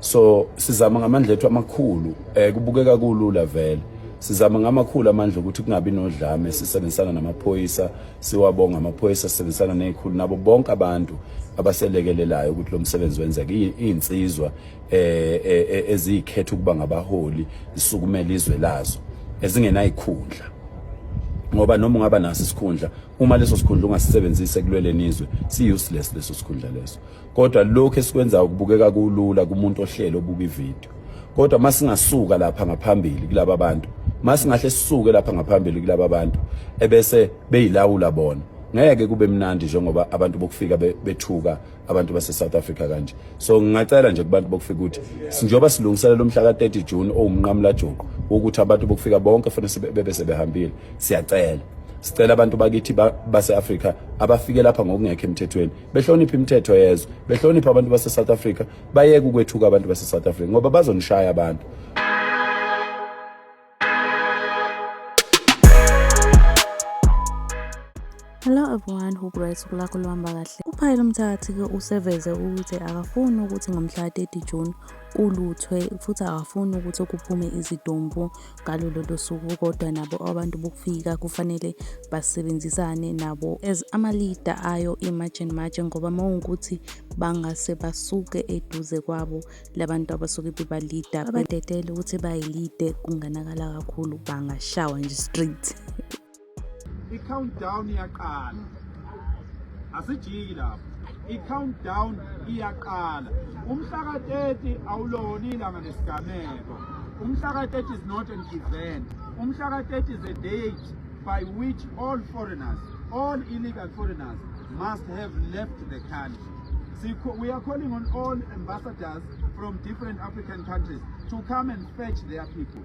so sizama ngamandla ethu amakhulu eh kubukeka kulula vele sizama ngamakhulu amandla ukuthi kungabi nodlame sisebenzisana namaphoyisa siwabonga amaphoyisa sisebenzisana nezikhulu nabo bonke abantu abaselekelelayo ukuthi lo msebenzi wenzeke izinsizwa eh, eh, eh ezikhetha ukuba ngabaholi zisukumela izwe lazo ezingenayikhundla ngoba noma ungaba naso isikhundla uma leso sikhundla ungasisebenzise kulweleni izwe si useless leso sikhundla leso kodwa lokho esikwenzayo kubukeka kulula kumuntu ohlelo obuka ivideo kodwa masingasuka lapha ngaphambili kulaba bantu masingahle sisuke lapha ngaphambili kulaba bantu ebese beyilawula bona ngeke kube mnandi njengoba abantu bokufika bethuka abantu base South Africa kanje so ngingacela nje kubantu bokufika ukuthi sinjoba silungiselela umhla ka 30 June owumnqamula joko ukuthi abantu bokufika bonke fanele bebe sebehambile siyacela sicela abantu bakithi base Africa abafike lapha ngokungekho emthethweni behloniphe imithetho yezwe behloniphe abantu base-south africa bayeke ukwethuka abantu base-south africa ngoba bazonishaya abantu Hello everyone, hope right usuku lakho luhamba kahle. UPhayile Mthakathi-ke useveze ukuthi akafuni ukuthi ngomhla ka-30 June kuluthwe futhi akafuni ukuthi kuphume izidumbu ngalo lolo suku kodwa nabo abantu bokufika kufanele basebenzisane nabo as ama-leader ayo i-march and march ngoba uma ungukuthi bangase basuke eduze kwabo labantu abasuke bebalida badedele ukuthi bayilide kunganakala kakhulu bangashawa nje straight I-countdown iyaqala. Asijiki lapho. I-countdown iyaqala. Umhla ka-30 awulona ilanga lesigameko. Umhla ka-30 is not an event. Umhla ka-30 is a date by which all foreigners, all illegal foreigners must have left the country. We are calling on all ambassadors from different African countries to come and fetch their people.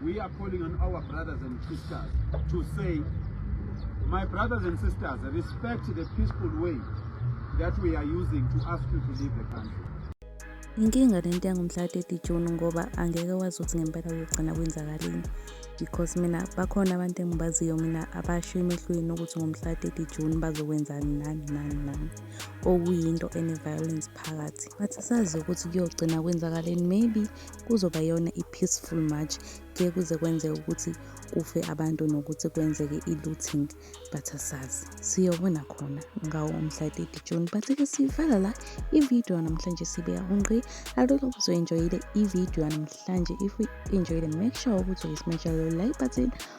We are calling on our brothers and sisters to say, my brothers and sisters, respect the peaceful way that we are using to ask you to leave the country. Inkinga lento yangomhla 30 June ngoba angeke wazi ukuthi ngempela kugcina kwenzakalini because mina bakhona abantu engibaziyo mina abasho emehlweni ukuthi ngomhla 30 June bazokwenzani nani nani nani okuyinto ene violence phakathi bathi sazi ukuthi kuyogcina kwenzakaleni maybe kuzoba yona i-peaceful march ngeke kuze kwenzeke ukuthi kufe abantu nokuthi kwenzeke i-looting but asazi siyobona khona ngawo umhla 30 june but-ke sivala la ividiyo namhlanje sibeka ungqi alula ukuthi uyi-enjoyile ividiyo namhlanje if uyi-enjoyile make sure ukuthi uyismesha lelo like button